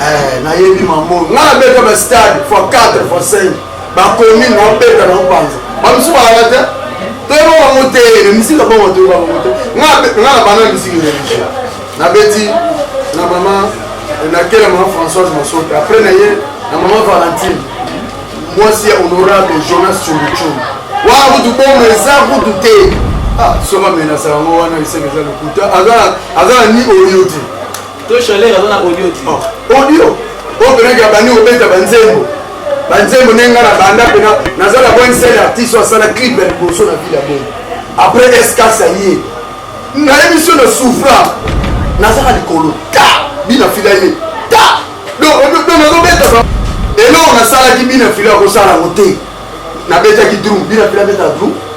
Eh, nayebi mambo nga nabeta ba stade fois 4 fois 5 bakomi nabeta na opanza bamisu balaka te toyeba bango te misika bongo toyeba bango te nga na bana misiki religieux nabeti na mama nakela mama françoise masope après na ye na mama valentine mwasi ya honorable jonas chunguchungu wana kutu bongo eza kutu te ah, soki amenasa yango wana liseki eza lokuta aza na ni oyo te To chaleur aza na audio ti. Oh, audio. Oyo oh, penaki abandi kobeta banzembo. Banzembo ndenge ngai nabanda mpe naza na bwani sele artiste oyo asala clip ya liboso na ville ya bongo. Après SKS aye. Na emission na soufra nazaka likolo ta bina fila ye ta donc nazobeta ba eloko nasalaki bina fila akosala yango te nabetaki drum bina fila abeta drum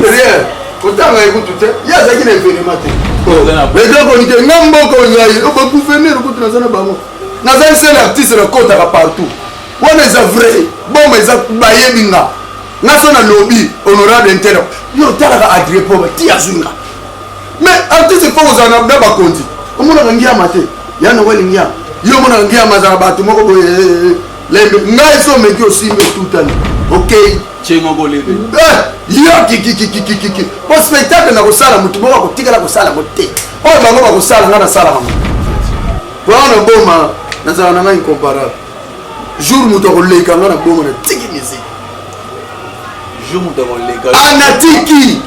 rien kotanga ye kutu te ye azalaki na evenema te etakoni te nga mboka ozali bagouverneur kutu naza na bango nazali sel artiste nakotaka partout wana eza vrai boma eza bayebi nga nga so nalobi honorable intelo yo otalaka adrie poma ti azwi nga mais artiste fo kozala na bakonzi omonaka ngiama te ya noel ngiama yo omonaka ngiama azala bato moko boye eh, eh, eh, lembe ngai so omeki osimbi otutani okei okay. cengo bolebe eh, yo kikikikikiki po spectacle nakosala motu moko akotikala kosala ngo te oyo bango bakosala nga nasalaka ngo wana naboma nazala na nga incomparable jour moto akoleka nga na boma natiki musique anatiki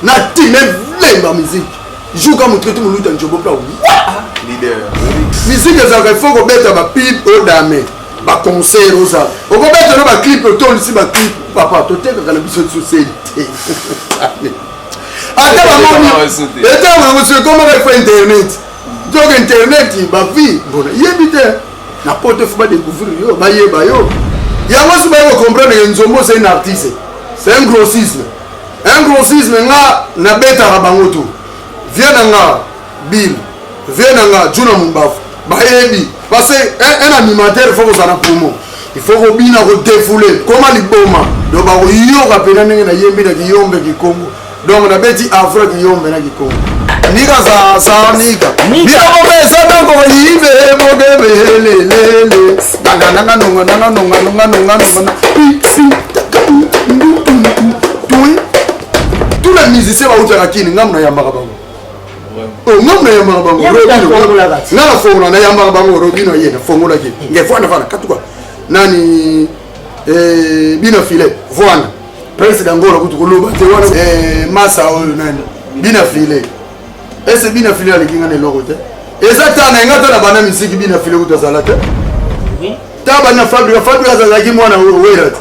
nati melemba musique jour ka motu eti moluta njobo pla wa musique ezalaka ifo kobeta bapile odame oh, ba concert oza okobeta na ba clip otondisi ba clip papa totekaka na biso tisoseli te ata bamomietamaoso ekomaka fo internet donc internet bavie bona yebi te na poto fo badecouvrir yo bayeba yo yango si baye kocomprendre ke nzombo oza un artiste c'est un grossisme un grossisme nga nabetaka bango to vie na nga Bill vieux na nga Djuna Mumbavu bayebi parce que un animateur faut kozala na promo il faut kobina kodefoule koma liboma donc bakoyoka mpena ndenge nayembi na kiyombe kikongo donc nabeti afro kiyombe na kikongo nika za za nika biloko pesa ntango koyibe mogebelelele nangananga nonga nanga nonga nonga nonga nonga pisi tous les musiciens bautaka kini ngambo nayambaka bango Oh, nga mna yambaka bango nga na fongola na yambaka bango robino ye na fongolaki nge vwana vwana katuka nani eh, bina filet vwana prince dangola kutu koloba te wana eh, masa oyo nani bina filet ese bina filet aleki nga na eloko te eza ta na nga ta na bana misiki bina filet kutu azala te ta bana fabrika fabrika azalaki mwana wera te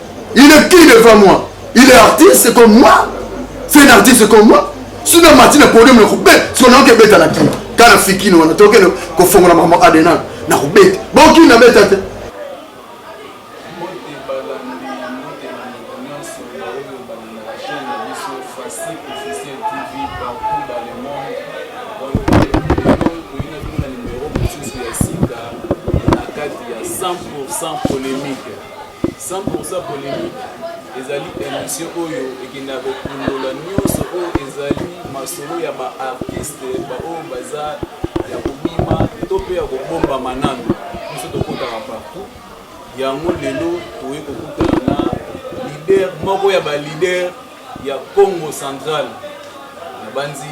Il est qui devant moi? Il est artiste comme moi? C'est un artiste comme moi? Sina mati na podium na kube, siko na oke beta na kino. Kana fikino wana toke no ko fongo na mama Adenal na kubeta. Bon kina beta te. sans polémique. 100 pour 100 polemique ezali emission oyo ekendaka kokundola nyonso oyo ezali masolo ya ba artiste baoyo baza ya kobima to mpe ya kobombama nano biso tokotaka partout yango lelo toye kokutana na leader moko ya ba leader ya Kongo central nabanzi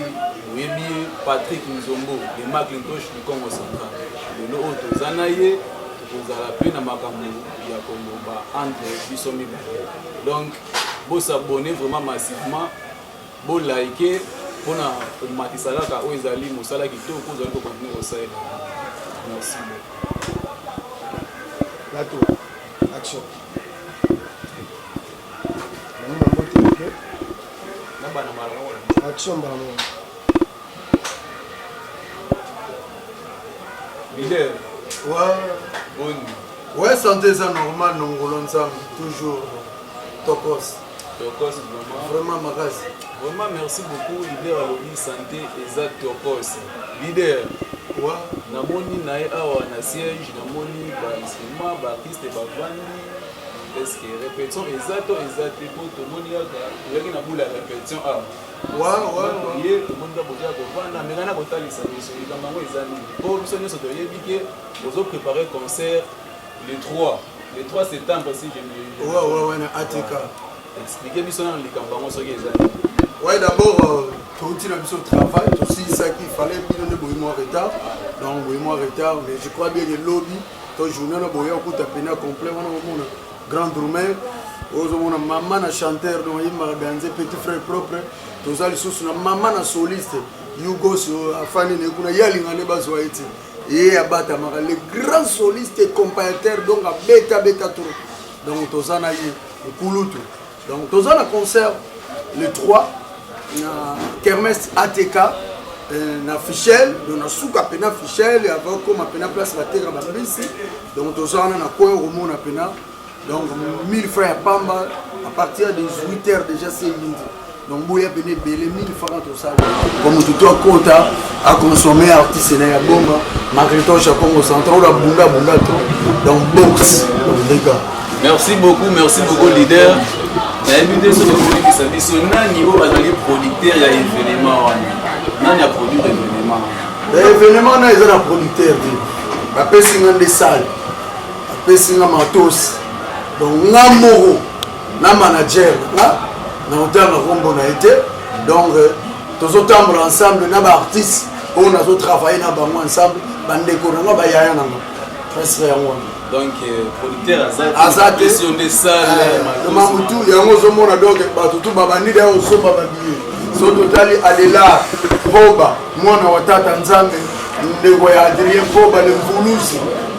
boyebi ye Patrick Nzombo de Macintosh du Kongo central lelo oyo toza na ye tokozala mpe na makambo ya koloba entre biso mibale donc bosabone vraiment massivement bolike mpona komatisa kaka oyo ezali mosala kitoko ozali kokontinue kosalela merci beaucoup action Action mbala moko. Leader. Ouais. Bonne. Ouais, santé eza normal nongolo nzambe toujours tokos. Tokos vraiment. Vraiment makasi. Vraiment merci beaucoup leader alobi santé eza tokos. Leader. Ouais. Namoni na ye awa na siège namoni ba instrument ba artiste bavandi Est-ce que répétition eza to eza te po tomoni kaka tozalaki na bula ya répétition awa ye tomoni kaka boza kovanda meka na kotalisa biso likambo yango eza nini po biso nyonso toyebi ke bozo prépare concert le 3 le 3 septembre si je wana atk explike biso nano likambo yango soki eza nini ouais d'abord euh, touti na biso travail tosilisaki fallait bino nde boyemwa retard donc boyemwa retard mais je crois bien ke lobi to journée na boya okuta pena complet wana omona grand drumeur ozomona mama na chanteur donc ayembaka danze petit frère propre toza lisusu na mama na soliste yugos euh, afani ne kuna ye alinga nde bazwa ye te ye abatamaka le grand soliste et comparateur donc abeta beta trop donc toza na ye nkulutu Donc toza na concert le 3 na Kermesse ATK euh, na Fichel, donc na suka pena Fichel et avant comme pena place la terre ba bisi. Donc toza wana na coin romona pena. Donc 1000 frères pamba à partir de 18h déjà c'est lundi. Donc boya pena belé 1000 francs po motu to akota aconsomme artiste na ya bonga macritoche ya congo central oyo abunda abunda trop donc boxe ndeka merci beaucoup merci beaucoup leader nayebi te soki okolekisa biso nani oyo azali producteur ya événement wana nani aproduire événement eh, événement wana eza na producteur te bapesi nga nde sale bapesi nga matos donc nga moko na manager nga na hotanga kombo na ye te donc euh, tozotambola ensemble na baartiste oyo nazotravaille na bango ensemble bandeko na nga bayaya na nga presque yango wana donc euh, producteur aza te euh, mamutu yango ozomona donc bato tu babandi da osomba babiye so totali adelar poba mwana wa tata nzambe ndeko ya adrien poba le mvuluzi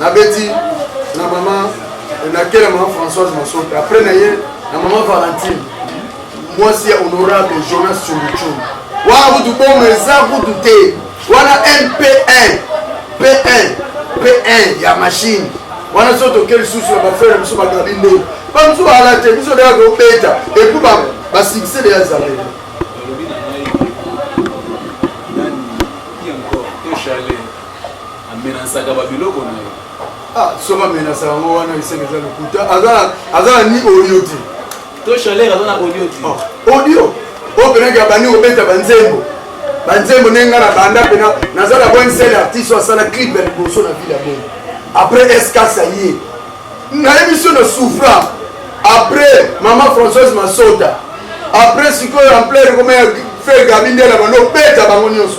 nabeti na mama nakela mama françoise masope après na ye na mama valentine mwasi ya honorable jonas chunguchun wana kutu bongo eza kutu te wana mp1 p1 p1 ya machine wana so toke lisusu na bafere biso bagabi nde bamosusu baala te biso deya tobeta epuis basuccès deya ezaleli amenasaka babiloko na ye ah, soki amenasaka yango wana eseke eza lokuta aza na ni audio te to chaleur aza na audio te oh, audio oyo penaki abandi kobeta banzembo banzembo ndenge ngai nabanda mpena naza na boni sele artiste oyo asala clip ya liboso na ville ya bongo après escasa ye nayebi so na souffra après mama françoise masota après sikoyo ampleur ekoma ya fe gabi nde na bando obeta bango nyonso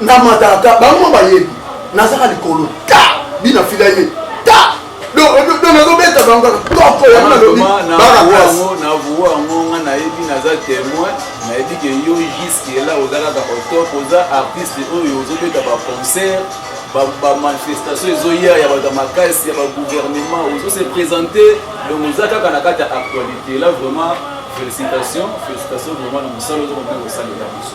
na matata bango bayebi nazaka likolo ta bina fila ye ta nazobeta bango toko yango nalobi bana klase navuwa yango nga nayebi naza témoin nayebi ke yo jusque là oza kaka otop oza artiste oyo ozobeta baconcert bamanifestation ezoya ya bato ya makasi ya bagouvernement ozo se présente donc oza kaka na kati ya actualité là vraiment félicitation félicitation vraiment na mosala ozo kombe kosalela biso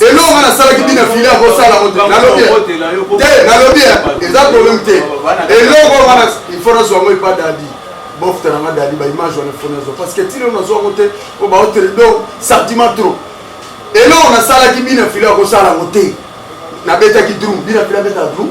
eloko nga nasalaki bina fili akosala nalobi te nalobi eza problème te eloko nga ifo nazwa yango epa dadi bofta na nga dadi baimage wana ifo nazwa parce que tino nazwa yango te po baotere donc sentiment trop eloko nasalaki bina fili akosala yango te nabetaki drum bina fili abeta drum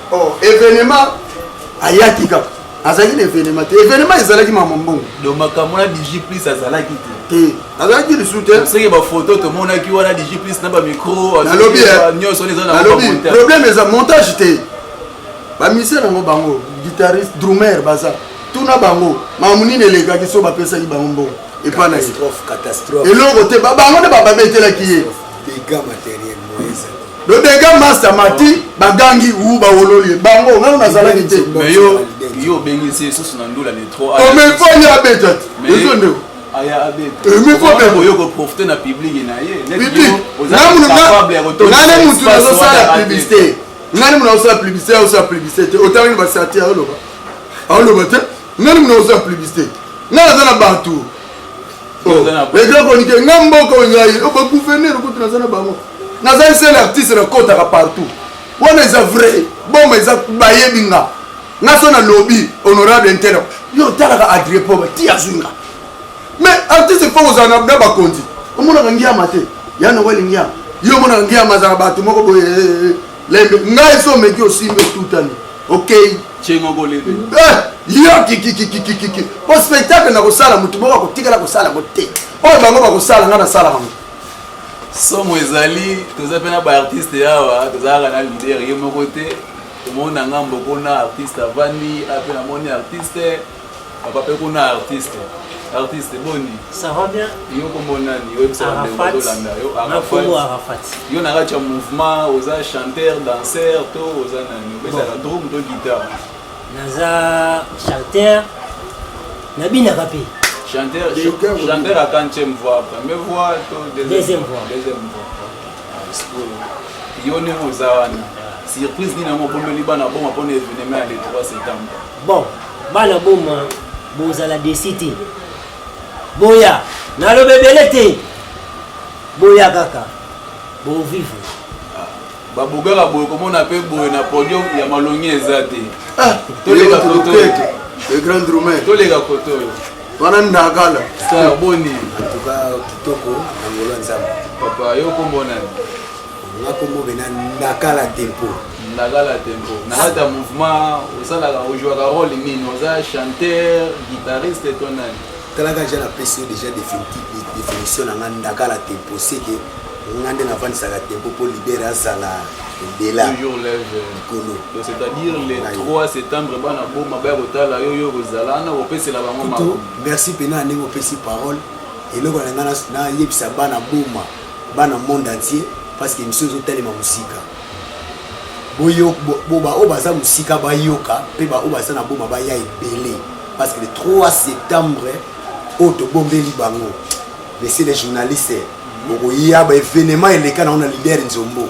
Oh, evenement ayaki kaka azalaki na evenement te evenement ezalaki mama mbongo donc makambo na digi plus azalaki te te azalaki lisusu te seke bafoto tomonaki wana digi plus na bamicro nalobi eh, nyonso eza nalobi problème eza montage te bamise nango bango guitariste drumer baza tuna bango mamu nini elekaki so bapesaki bango mbongo epa na ye eloko te bango nde bababetelaki ye le dega master mati bagangi u bawololi bango ngai nazalaki te yo obengisi esusu na ndula ne trop omefani abeta te ezo ndeko oyokoprofite na publiki na ye nane mutu nazosala publicité nani muna osala publicité osala publicité te otangi basati aoloba aoloba te nani muna osala publicité ngai naza na bato edokonike nga mboka oyo ngai bagouverneur kutu naza na bango naza esele artiste nakotaka partout wana eza vrai boma eza bayebi nga nga so nalobi honorable intelo yo otalaka adriepo bati azwi nga mais artiste fo kozala na bakonzi omonaka ngiama te yana weli ngiama yo omonaka ngiama azala bato moko boye eh, eh, eh. lembe ngai esi omeki osimbi otutani okei cengo kolebe eh, yo kikikikikikiki po spectacle na kosala motu moko akotikala kosala ngo te oyo bango bakosala ngai nasalaka ngo somo ezali toza mpe na baartiste yawa tozalaka na lider ye moko te omona ngambo kuna artiste avandi ape namoni artiste Papa pe kuna artiste. Artiste boni? Ça va bien? Yo kombo nani? Yo bisa ba ndeko bazolanda yo. Arafat. Arafat. Yo na kati ya mouvement oza chanteur, danseur to oza nani? Obetaka drum to guitare? Naza chanteur. Nabinaka pe. Chanteur, chanteur à quantième voix? Première voix to deuxième, deuxième voix? Deuxième voix. Ah, yo nini oza wana? Surprise nini yango okomeli bana bongo mpona evenement ya le 3 septembre? Bon, bana boma bozala desi te. Boya, naloba ebele te. Boya kaka, bovivre. Ah, babogaka boye komona mpe boye na podium ya malongi eza te ah, toleka kotoyo le grand roumain toleka kotoyo wana ndakala boni en tout cas kitoko na ngolo ya nzambe papa yo kombo nani nga kombo bena ndakala tempo ndakala tempo na kati ya mouvement osalaka ojouaka role nini oza chanteur guitariste to nani talaka ja napesi yo déjà définition na nga ndakala tempo seke nga nde navandisaka tempo mpo libere azala ebela likolo c'est-à-dire le 3 septembre bana boma baya kotala yo yo kozala wana kopesela bango merci mpena ndenge opesi parole eloko na ngai nayebisa bana boma bana monde entier parce que emission ezo telema musika boyo bo ba oyo baza musika bayoka pe ba oyo baza na boma baya ebele parce que le 3 septembre oyo tobombeli bango monsieur le journaliste okoya ba evenement eleka na ona leader nzombo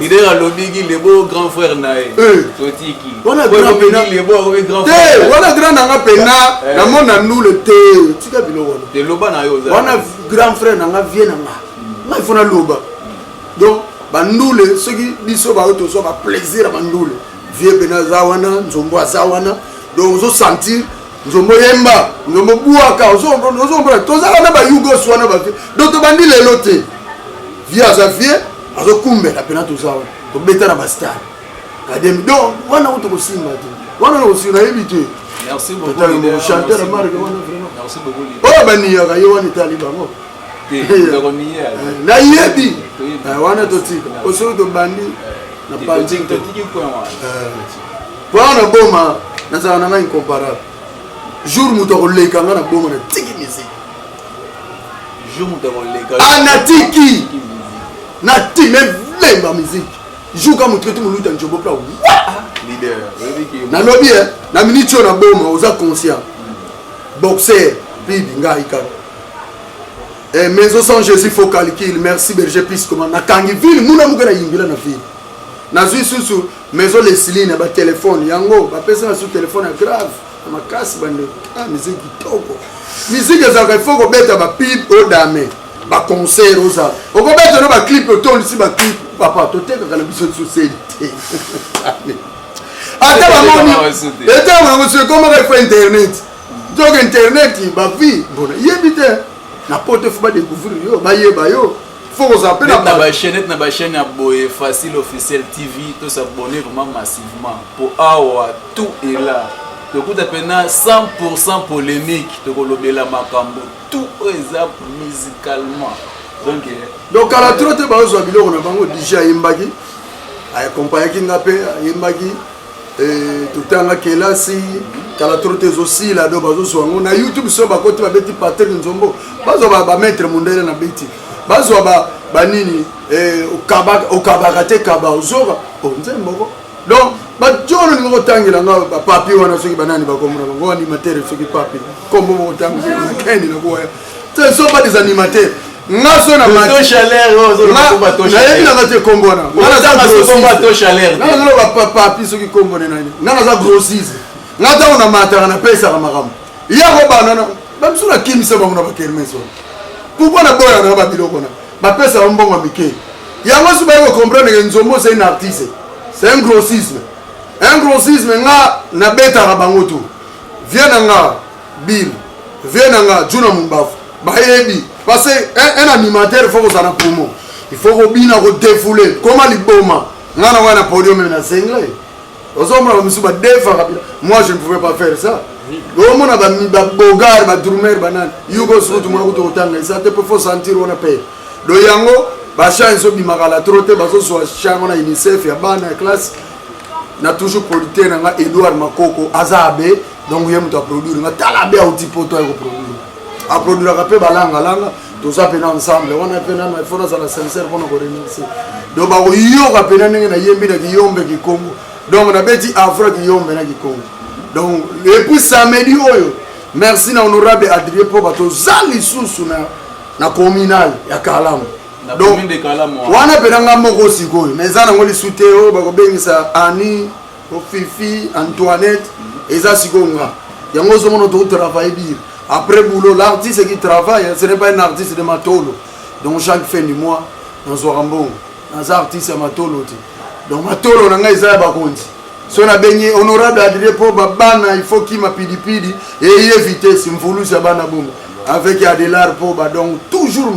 lider alobiki lebo grand frère na ye eh. totiki wana grand nanga pena eh. namona ndule te tika biloko eloba na yo wana grand frère nanga vie nanga nga ifo naloba donc bandule soki biso bayo tozwa baplaisir ya bandule vie pena aza wana nzombo aza wana donc ozosentir nzombo yemba nzombo buaka ozombona tozala na bayugos wana bavie donc tobandi lelo te vie aza vie azokumbela mpena toza wana tobeta na bastare kademi donc wana ngo tokosimba te wana nakosimba nayebi te chanteur ya marke wana vraiment oyo baniyaka ye wana etali bango nayebi wana totika osoki tobandi na panzi Pona na boma nazala na nga incomparable. Jour moto akoleka nga na boma na tiki musique. Jour moto akoleka. Ah na tiki. Na ti me vemba musique. Jour ka moto eti moluta njobo pla. Leader. Nalobi eh na minute oyo na boma oza conscient. Boxer bibi ngai kaka. Eh, maison sans jésus faut calcul merci berger piscoma nakangi ville muna moke na yingila na ville nazwi susu maison lesili na batelefone yango bapesa na su telefone ya grave na makasi bande ah, miziki kitoko miziki ezalaka ifo kobeta bapib odame baconcert oza okobeta no baclip otondisi baclip papa totekaka na biso lisusu seli te ata bamoni etango yango so ekomaka ifo internet donc internet bavie mbona yebi te na poto fo badecouvrir yo bayeba yo faut kozala mpe na bachainete na bachaine ya boye facile officiel tv to s'abonne vraiment massivement mpo awa tout est là tokuta mpena 100 pourcent polémique tokolobela makambo tout oyo eza musicalement donc eh, donc kala tro te bazozwa biloko na bango dj ayembaki akompayaki nga mpe ayembaki totanga kelasi kala toro te ezosila do bazozwa yango na youtube so bakoti babeti patrik nzombo bazwa bamaitre mondele na beti bazwa banini eh, okabaka te kaba ozoka oh, nzemboko donc bato oyo olingi kotangela nga bapapi wana soki banani bakomona bango baanimatere soki papi kombo bokotanga na keni na koya te so ba des animatere nga so na nayebi nanga te kombo wana nazoloba papapi soki kombo ne nani nga naza grossise nga ntango na mataka napesaka makambo yako banana bamisu nakimisa bango na bakermes wana pourkoi naboyaka nanga babiloko na bapesaka mbongo ya mike yango so baye kocomprendre ke nzombo c'est un artiste c'est un grossisme un grossisme nga nabetaka bango tu vie na nga Bill vieux na nga Juna Mumbavu bayebi parce que un animateur faut kozala na poumon il faut kobina kodefoule koma liboma nga na wana na podium meme na sengle ozomona bamisu badefaka bila moi je ne pouvais pas faire ça omona babogar badrumer banani yugo suku tomona kutu kotanga eza te mpo fo sentir wana mpe do yango bachan ezobimaka la tro te bazozwa chan wana unicef ya bana ya classe na toujours producteur na nga edouard makoko aza abe donc ye moto aproduire nga tala be auti poto aye koproduire aproduiraka mpe balangalanga toza mpe na ensemble wana mpe nana ifo nazala sincere mpona koremercie donc bakoyoka mpena ndenge nayembi na kiyombe kikongo donc nabeti afra kiyombe na kikongo donc epuis samedi oyo merci na honorable adrie mpo bato za lisusu na, na communal ya kalamu donc wana mpena nga moko sikoyo na eza nango lisu te oyo bakobengisa ani ko fifi antoinette eza sikoyo nga yango ozomona to travaille dire après boulot l'artiste qui travaille ce n'est pas un artiste de matolo donc chaque fin du mois nazwaka mbongo naza artiste ya matolo te donc matolo na ngai eza ya bakonzi so nabengi honorable adrie mpo babana il faut kima pidipidi eye vitesse mvulusi ya bana bongo avec adelar mpo badongo toujours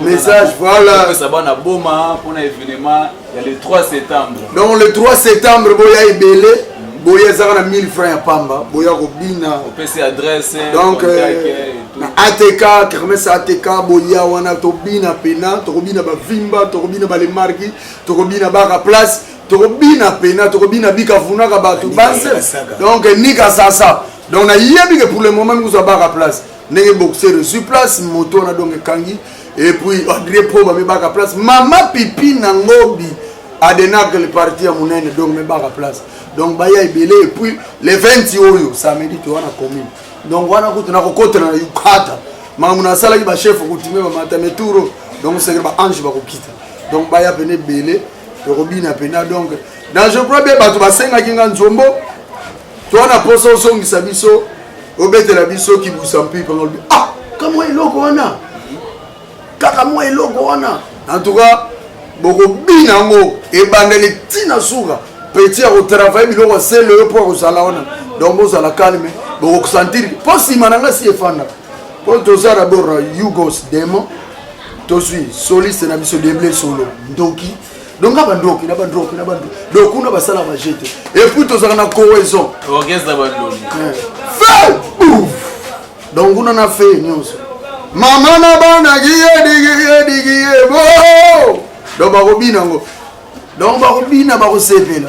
message voilà ça va na boma pour un événement il y a le 3 septembre donc le 3 septembre boya ebele boya ezaka na 1000 francs ya pamba boya kobina opesi adresse donc euh, na atk kermese atk boya wana tobina pena tokobina bavimba tokobina balemarki tokobina baka place tokobina pena tokobina bikavunaka bato base donc nika sasa donc nayebi ke pour le moment mikozwa baka place ndenge boxeur ezwi place moto wana donc ekangi epuis adrie po bamibaka place mama pipi na ngobi adenaka le parti ya monene donc mibaka place donc baya ebele epuis le 20 oyo samedi towana commune donc wana kutu nakokotana na yukata makambo nasalaki bachef kutime bamata meturo donc seke baange bakokita donc baya pene ebele tokobina pena donc dans je crois bien bato basengaki nga nzombo Toi na posa ozongisa biso obetela biso kibusa mpipe ngolobi ah kamwa eloko wana kaka mwa eloko wana en tout cas bokobina yango ebandeli ntina suka petit ya kotravaille biloko asele yo mpo akozala wana donc bozala calme bokosentir mpo nsima na ngai si efanda mpo toza dabord yugos demon tozwi soliste na biso deble solo ndoki donc na bandoki na bandoki na bandoki donc kuna basala baje te epuis tozalaka na cohésion fe donc kuna na fe nyonso mama na bana giyedigiyedigiye bo donc bakobina yango donc bakobina bakosepela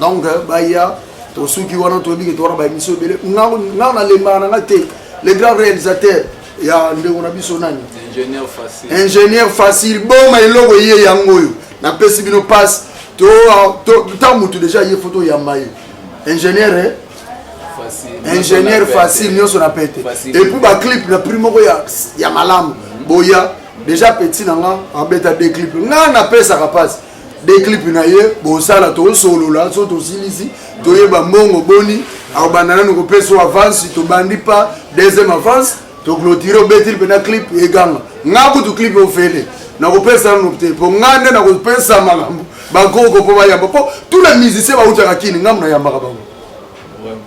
donc euh, baya tosuki wana toyebi ke towana baémission ebele nga nalembaka na nga te le grand réalisateur ya ndeko na biso nani ingénieur facile boma eloko ye yango oyo napesi bino passe ta motu déjà ye foto oyamba ye ingénieur eh? ingénieur facile nyonso na pete epuis baclip na prix moko ya malamu boya déjà petit na nga abeta de clip nga napesaka mpasi de clip na ye bosala tosolola so tosilisi toyeba mbongo boni akobanda nanu kopesa o avance tobandi pa deuxième avance toclotire obetili mpena clip eganga nga kutu clip ofele nakopesa nanu te mpo nga nde nakopesa makambo bakoko mpo bayamba mpo tout na musicien bautaka kini ngambo nayambaka bango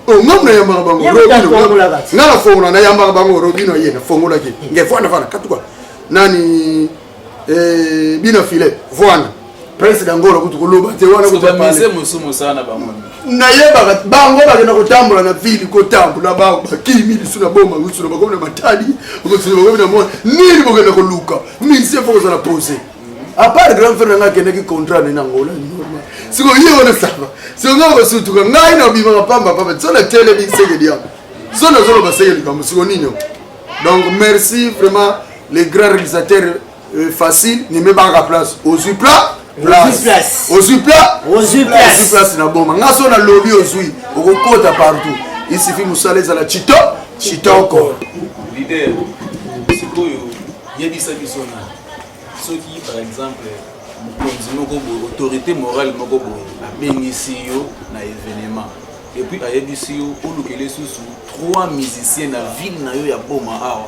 oh, ngambo nayambaka bango nga nafongola nayambaka bango robino ye nafongolaki ngefana fana katuka nani eh bina filet voana prince dangolo kutu koloba te wana kutu bamise musumu sana bango nayebaka bango bakenda kotambola na ville kotambola bango bakimi lisu na boma lisu na bakomi na matali lisu na bakomi na mona nini bokenda koluka mise fo kozala pose apart grand frère nanga akendaki contrat ne na ngola normal siko ye wana sava siko ngai kosutuka ngai na obimaka pamba pamba so na telemi sekedi yango so nazoloba sekedi kambo siko nini donc merci vraiment le grand realisateur euh, facile ne me banga place ozwi pla ozwi pla ozwi place na boma nga so nalobi ozwi okokota partout isifi mosala ezala chito chitoko lider sikoyo yebisa biso na soki par exemple mokonzi moko boye autorité morale moko boye abengisi yo na événement epuis ayebisi yo olukeli lisusu trois musicien na ville na yo ya boma awa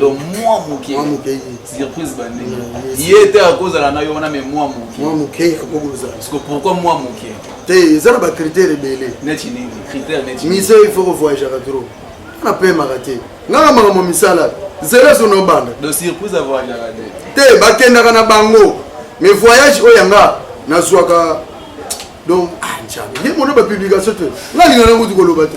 donc mwa moke surprise bandenge ye te akozala na yo wana me mwa moke parceque pourquoi mwa moke te eza na bacritère ebele neti nini critère neti mise il faut kovoyageaka trop ana pemaka te nganga makambo misala zela so nobanda donc surprise avoyagaka te te bakendaka na bango mais voyage oyo yanga nazwaka donc ah, njabe ye mono bapublication te nga linga nango tikoloba te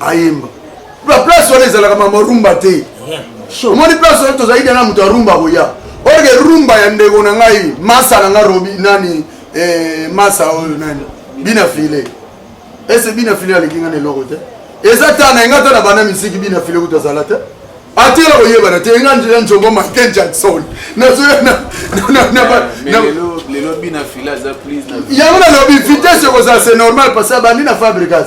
ayemba ba place wana ezalaka mama rumba te omoni place wana tozali dana moto ya rumba koya orke rumba ya ndeko na ngai masa na ngai robi nani eh, masa oyo nani bina file ese bina file aleki ngai na eloko te eza ta na enga ta na bana misiki bina file kutu azala te atela koyebana te enga njela njongo michael jackson yango nalobi vitesse ekozala se normal parce abandi na fabricas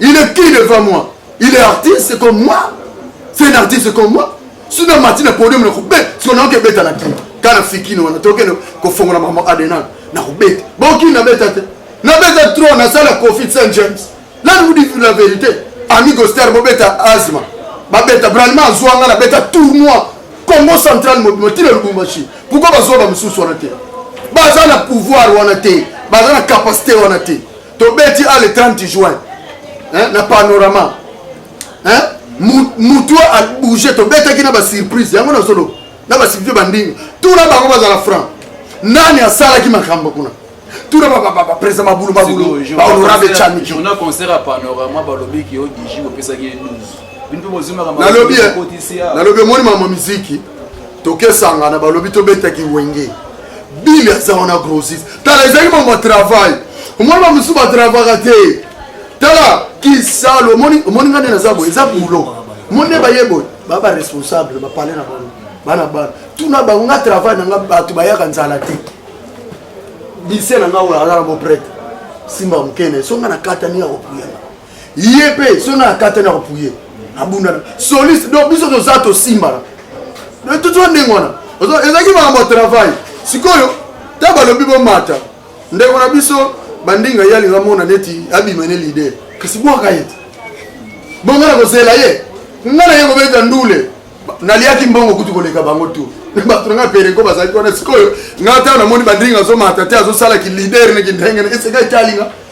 Il est qui devant moi? Il est artiste comme moi? C'est un artiste comme moi? Sina mati na podium na kube, siko na kebeta na kina. Kana fikini wana toke no kofongola mama Adenal na kubeta. Boki na beta te. Na beta trop na sala Kofi Saint James. Là nous dit la vérité. Amigo Star bobeta Azma. Babeta Branima azwanga na beta tournoi Congo central mobimo ti na Lubumbashi. Pourquoi bazwa ba mususu wana te? Baza na pouvoir wana te. Baza na capacité wana te. tobeti a le 30 juin hein, na panorama hein? mutu abouge tobetaki na basurprise yango nazoloba na basurprise bandinga tuna bango bazala franc nani asalaki makambo kuna tuna bapresa mabulu mabulu bahonorable chami on a concert ya panorama balobi ki yo digi opesaki ye 12 nalobi nalobi omoni mama miziki tokesangana balobi tobetaki wenge bili aza wana grosis tala ezalaki mambo ya travail omoni bamosusu batravaka te tala kisalo omoni nga nde naza boye eza boulot omoni nde baye boye baa baresponsable bapale na bango bana bana tuna bango nga travail na nga bato bayaka nzala te bise na nga oyo aza na boprete simba mokene so nga nakatani ya kopuyana ye mpe soki na kata na kopuye abundana soliste donc biso toza tosimbana tutua ndenge wana ezalaki makambo ya travail sikoyo ntango balobi bomata ndeko na biso bandinga ye alinga mona neti abima ne lider kasi bwaka ye bongo na kozela ye nga na ye kobeta ndule naliaki mbongo kutu koleka bango tu bato na ngai pereko bazalaki wana sikoyo ngai ntango namoni bandinga azomata te azosalaki lider neki ndenge esekaki alinga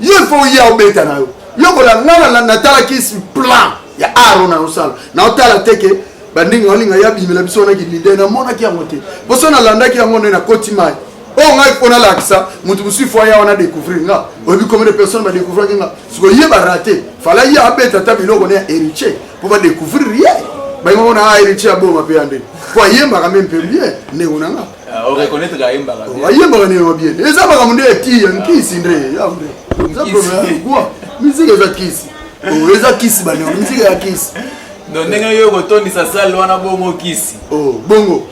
yo il faut oya obeta na yo lokola nga natalaki plan ya aro na osala na otala te ke bandenge olinga ya bimela biso wana kilide namonaki yango te poso nalandaki yango nde nakoti mai oyo ngai mpo nalakisa moto mosusu fo aya wana découvrir nga oyebi combien de personne badécouvraki nga siko ye barate fala ye abeta ata biloko ne ya héritier mpo badécouvrir ye bainga mona a héritier aboma mpe ya nde mpo ayembaka mpe mpe bien ndeko na nga ayembaka nini wa bien eza makambo nde ya ti ya nkisi nde eza problème quoi musique eza kisi oh, eza kisi baniongo musique ya kisi donc ndenge yo kotondisa sale wana bongo kisi oh, bongo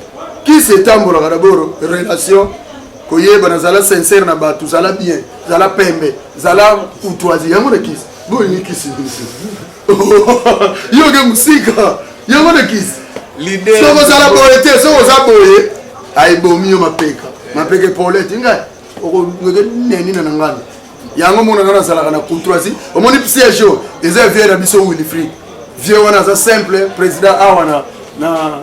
kisi etambolaka dabord relation koyebana zala sincere na bato zala bien zala pembe zala courtoisie yango na kisi bolingi kisi yo ke mosika yango na kisi soko ozala boye te soko oza boye aebomi yo mapeka mapeka epolete ngai okoke neni na na ngani yango mona nga nazalaka na courtoisie omoni siège oyo eza vie na biso wilfrid vie wana aza simple président awa na na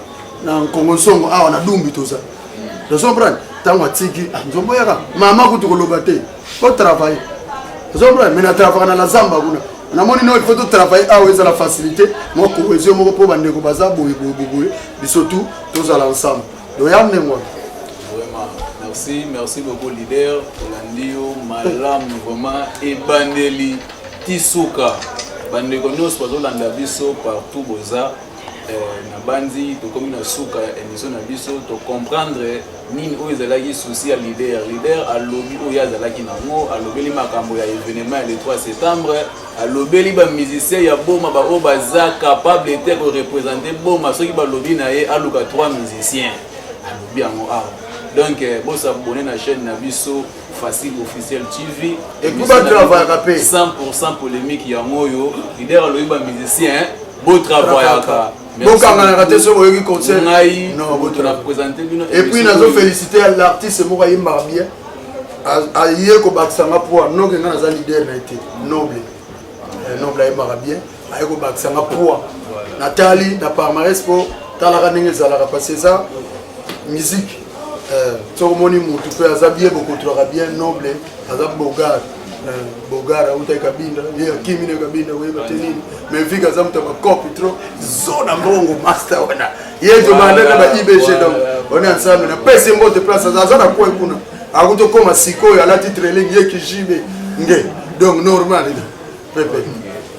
na nkongo nsongo awa na dumbi toza tozomprane ntango atiki ah, nzombo yaka mama kutu koloba te otravaille tozomprane me na travaka na lazamba kuna namoni no il faut to travailler awa ezala facilité mwa cohésion moko mpo bandeko baza boye boye boye biso tout tozala ensemble doya ndenge wana merci merci beaucoup leader tolandi yo malamu vraiment ebandeli ti suka bandeko nyonso bazolanda biso partout boza eh, nabanzi tokomi na suka ya émission na biso tocomprendre nini oyo ezalaki souci ya leader leader alobi oyo azalaki nango alobeli makambo ya evenement ya le 3 septembre alobeli bamusicien ya boma baoyo baza capable te korepresente boma soki balobi na ye aluka 3 musicien alobi yango awa ah. donc eh, bosabone na chaîne na biso facile officiel tv epubatravaillaka mpe 100 polémique yango oyo leader alobi bamusicien botravaillaka bokanganaka te soki oyoki concert ngai epuis nazo félicité ya l'artiste moko ayembaka bien aye kobakisa nga poa noke nga naza leader na ye te noble eh, noble ayembaka bien aye kobakisa nga poa natali na parmares mpo talaka ndenge ezalaka parce eza musique Eh, soki omoni mutu mpe aza bien bokotulaka bien noble aza bogar eh, bogar auta ekabinda ye akimi na ekabinda oyeba te nini mais vika aza moto ya bakopi trop zo na mbongo master wana ye tobanda na ba ibg donc ona ensemble napesi mbote place aza na coin kuna akuti okoma sikoyo alati trailing ye kijibe nge donc normal pepe